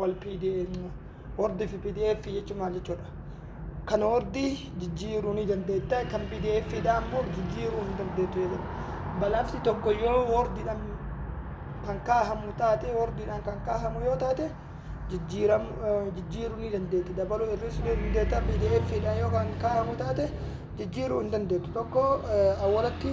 wal pdf word fi pdf jechuun maal jechuudha kan wordi jijjiiruu ni dandeetta kan pdf dha ammoo jijjiiruu hin dandeettu jedhama balafti tokko yoo wordiidhaan kan kaahamu taate wordiidhaan kan kaahamu yoo taate jijjiiramu eh, jijjiiruu ni dandeetti dabaluu hir'isuu ni dandeetta pdf dhaan yoo kan kaahamu taate jijjiiruu hin dandeettu tokko eh, awwalatti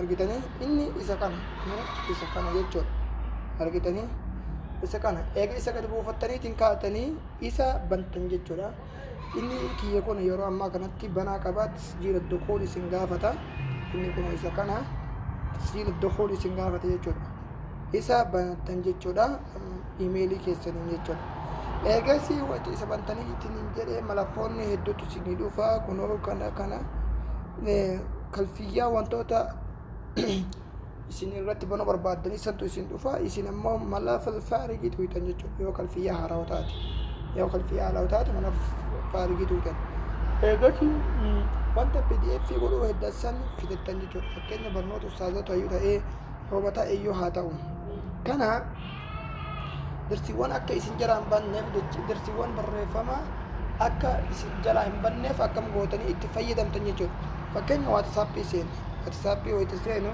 argitanii inni isa kana isa kana jechuudha argitanii isa kana eega isa gad buufattaniitiin kaatanii isa bantan jechuudha inni kiyya kun yeroo ammaa kanatti banaa qabaa tasjiila dukuul isin gaafata inni kun isa kana tasjiila dukuul isin gaafata jechuudha isa banatan jechuudha imeelii keessaniin jechuudha eegasi wati isa bantanii ittiin jedhee malakkoonni hedduutu isinii dhufa kunoo kana kana kalfiyyaa wantoota isin irratti banuu barbaaddan isantu isin dhufa isin ammoo mala faarigii tuuytan jechuudha yoo kalfiyyaa haarawa taate yoo kalfiyyaa haarawa taate mala faarigii tuuytan eegasi wanta pdf godhuu heddasan fidattan jechuudha fakkeenya barnoota ustaazota yoo ta'ee yoo ta'e yoo haa ta'u kana Darsiiwwan akka isin jalaa hin banneef jecha darsiiwwan barreeffamaa akka isin jalaa hin banneef akkam gootanii itti fayyadamtan jechuudha. Fakkeenya waatsappii seenu. Waatsappii wayita seenu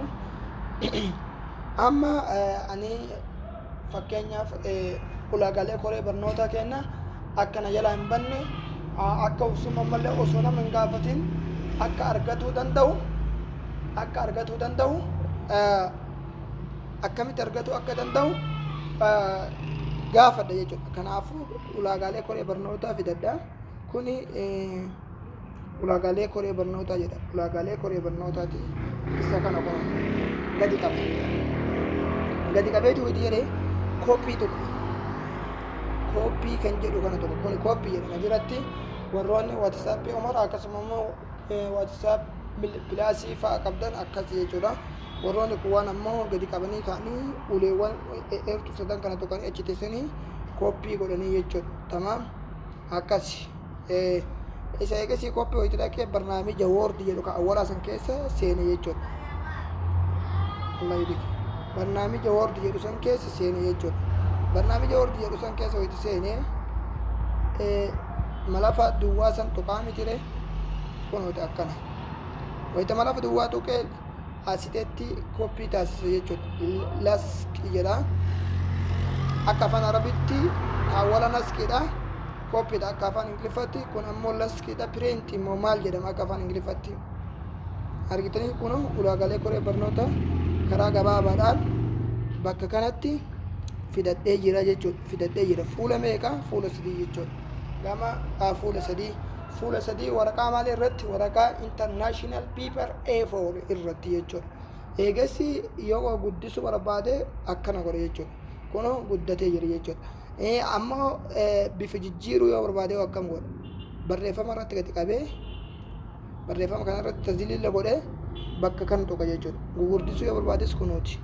amma eh, ani fakkeenyaaf eh, ulaagaalee koree barnootaa keenya akka na jalaa hin banne ah, akka obsuma malee osoo nama hin gaafatin akka argatuu danda'u akka argatuu danda'u eh, akkamitti argatuu akka danda'u gaafadha jechuudha. Kanaafuu ulaagaalee koree barnootaa fidadha. Kuni ulaagaalee koree barnootaa jedha. Ulaagaalee koree barnootaati isa kana qofa gadi qabe. Gadi qabeetu hojii jedhee kooppii tokko kooppii kan jedhu kana tokko kuni kooppii jedhama jiratti warroonni watisaappii umara akkasuma immoo waatisaap pilaasii fa'a qabdan akkas jechuudha. Warroonni kuwwaan ammoo gadi qabanii ka'anii uleewwan eertuu sadan kana tuqanii achi teessanii kooppii godhanii jechuudha. Tamaam akkas isa eegasii kooppii wayita dhaqee barnaamija woordi jedhu kan awwalaa san keessa seene jechuudha. Barnaamija woordi jedhu san keessa seene jechuudha. Barnaamija woordi jedhu san keessa wayita seene malafa duwwaa san tuqaa mitire kunooti akkana wayita malafa duwwaa tuqee asitetti koppii taasise jechuudha laski jedha akka afaan arabitti awwala naskiidha koppiidha akka afaan ingiliffatti kun ammoo laskiidha pireenti immoo maal jedhama akka afaan ingiliffatti argitanii kun ulaagaalee koree barnoota karaa gabaabaadhaan bakka kanatti fidadhee jira jechuudha fidadhee jira fuula meeqa fuula sadii jechuudha gama ah, fuula sadii fuula sadii waraqaa maal irratti waraqaa international paper A4 irratti jechuudha eegassi yoo guddisu barbaade akkana godhe jechuudha kun guddatee jira jechuudha Eh, ammoo eh, bifa jijjiiruu yoo barbaade akkam godha barreeffama irratti gadi qabee barreeffama kana irratti taziliila godhee bakka kana tuqa jechuudha. Gugurdisuu yoo barbaades kunuuti.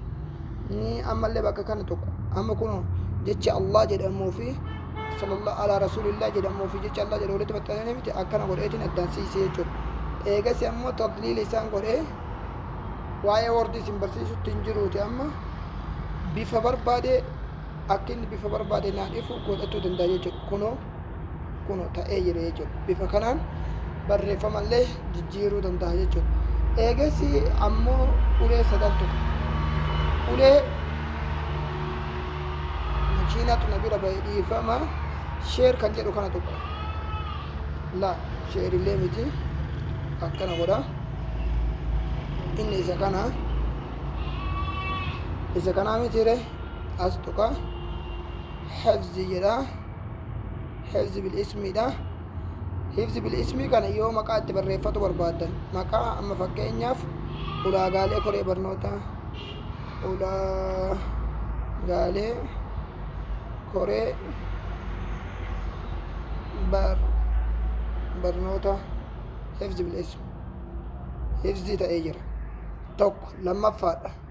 Ni ammallee bakka kana tuqa. Amma kun jecha Allah jedhamuu fi sallallahu ala rasulillah jedhamuu fi jecha Allah jedhamu walitti maxxananii miti akkana godheetiin addaan siisee jechuudha. Eegas ammoo tadliila isaan godhee waa'ee wardi isin barsiisutti hin jiruuti amma bifa barbaadee akka inni bifa barbaade naan ifu godhachuu danda'a jechuudha. Kunoo kun ta'ee jira jechuudha. Bifa kanaan barreeffamallee jijjiiruu danda'a jechuudha. Eegassi ammoo ulee sadan tuqa. Ulee makiinatu na bira ba'e dhiifama sheer kan jedhu kana tuqa. La sheerillee miti akkana godha. Inni isa kana isa kanaa mitiire as tuqa. Hafzi jedha. hifzi bil ismiidha hifzi bil ismii kana yoo maqaa itti barreeffatu barbaaddan maqaa amma fakkeenyaaf ulaagaalee koree barnootaa ulaagaalee koree bar barnoota hifzi bil ismi hifzi ta'ee jira tokko lammaffaadha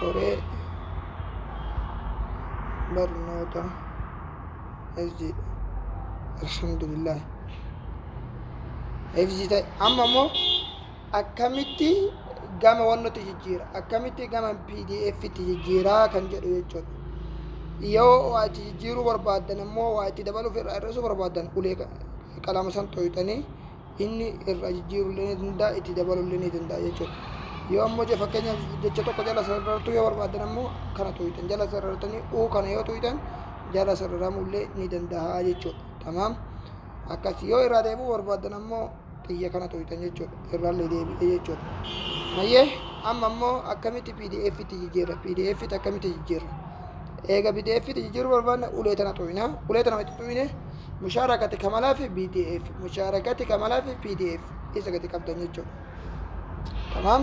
koree barnoota hifzii alhamdulillah hifzii ta'e amma immoo akkamitti gama wannutti jijjiira akkamitti gama pdf itti jijjiiraa kan jedhu jechuudha yoo waa itti jijjiiruu barbaaddan immoo waa itti dabaluuf irraa hir'isuu barbaaddan ulee qalama san xooyxanii inni irraa jijjiiruu illee ni danda'a itti dabaluu illee ni danda'a jechuudha. Yoo ammoo je- fakkeenyaaf jecha tokko jala sarartuu yoo barbaadan ammoo kana tuuytan jala sarartanii uu kana yoo tuuytan jala sararamuu illee ni danda'a jechuudha. Tamaam akkas yoo irraa deebi'uu barbaadan ammoo xiyya kana tuuytan jechuudha irraa illee deebi'ee jechuudha. Hayyee amma ammoo akkamitti PDF itti jijjiirra PDF itti akkamitti jijjiirra? eega bideeffiti jijjiiruu barbaanna ulee tana xuyna ulee tana itti xuyne mushaarakati kamalaa fi bdf mushaarakati kamalaa fi pdf isa gadi qabdan jechuudha tamaam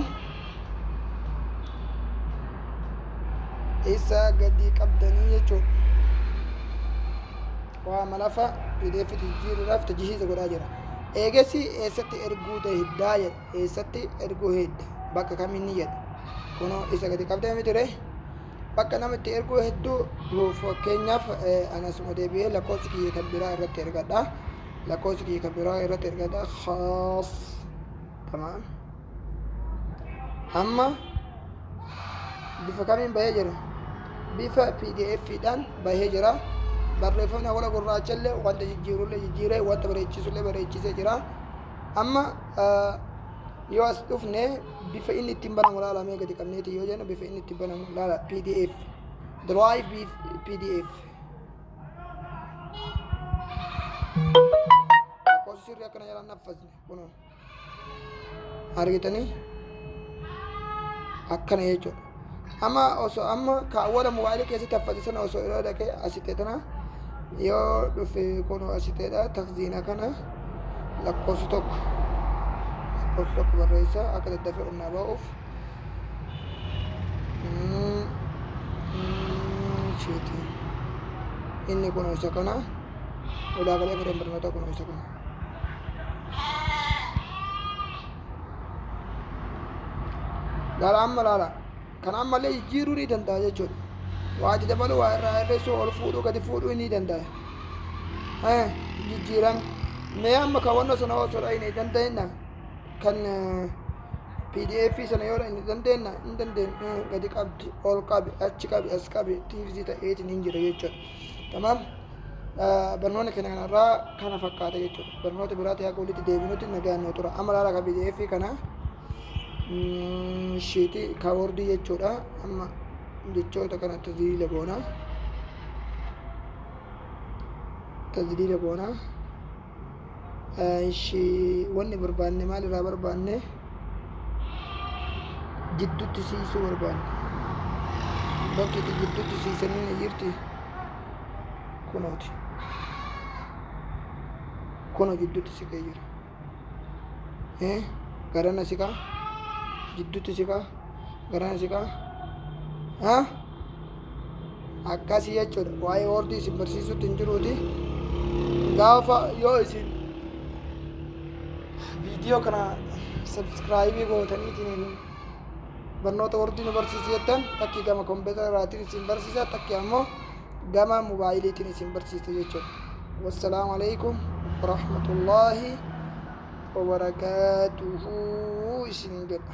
isa gadi qabdanii jechuudha waa malafa pdf jijjiiruudhaaf tajhiiza godhaa jira eegasi eessatti erguu tahiddaa jedha eessatti erguu hedda bakka kaminni jedha kunoo isa gadi qabdee mitire bakka nama itti erguu hedduu nuuf fakkeenyaaf an asuma deebi'ee lakkoofsi kiyya kan biraa irratti ergadha lakkoofsi kiyya kan biraa irratti ergadha khaas tamaam amma bifa kamiin bahee jira bifa pdf dhaan bahee jira barreeffamni awwala gurraacha illee wanta jijjiirullee jijjiiree wanta bareechisullee bareechisee jira amma yoo as dhufne bifa inni ittiin banamu laala mee gadi qabneeti yoo jennu bifa inni ittiin banamu laala pdf drive pdf lakkoofsi sirrii akkana jalaan naffasne kunoo argitanii akkana jechuudha Amma osoo amma kaawwara mobaayilii keessatti haffate sana osoo irra dhaqee asitee tana yoo dhufe kun asiteedha takziina kana lakkoofsi tokko lakkoofsi tokko barreessa akka daddafee qonnaa ba'uuf. Mm, mm, shiiti. Inni kun isa kana ulaa galee fedhan barnootaa kun isa kana. laala amma laala kan ammallee jijjiiruu ni danda'a jechuudha waa itti dabaluu waa irraa hir'isuu ol fuudhuu gadi fuudhuu ni danda'a Eh, jijjiiran mee amma kaawwannoo sana osoo dhayne dandeenya kan eh, pdf sana yoo dhayne dandeenya hin dandeenya Eh, gadi qabdi ol qabi achi qabi as qabi tiivzii ta'eetiin hin jira jechuudha Tamaam barnoonni keenya kanarraa kana fakkaata jechuudha. Barnoota biraatti haqa walitti deebinutti nagaan nu tura. Amma laala kan PDF kana shiitii kaawordii jechuudha. Amma jechoota kana tajaajiila boonaa. Tajaajiila boonaa. Ishi wanni barbaanne maal irraa barbaanne jidduutti siisuu barbaanne bakki itti jidduutti siisanii ni jirti kunooti kuno jidduutti siqee jira Eh, garana siqaa jidduutti siqaa garana siqaa Ah? akkasii jechuudha waa'ee hoordii isin barsiisutti hin jiruuti gaafa yoo isin viidiyoo kana sabskraayibii gootaniitiin barnoota hoordii nu barsiisi jettan takki gama kompiitara irraatiin isin barsiisa takki ammoo gama mobaayiliitiin isin barsiisa jechuudha wassalaamu alaikum warahmatullaahi wabarakaatuhu isin jedha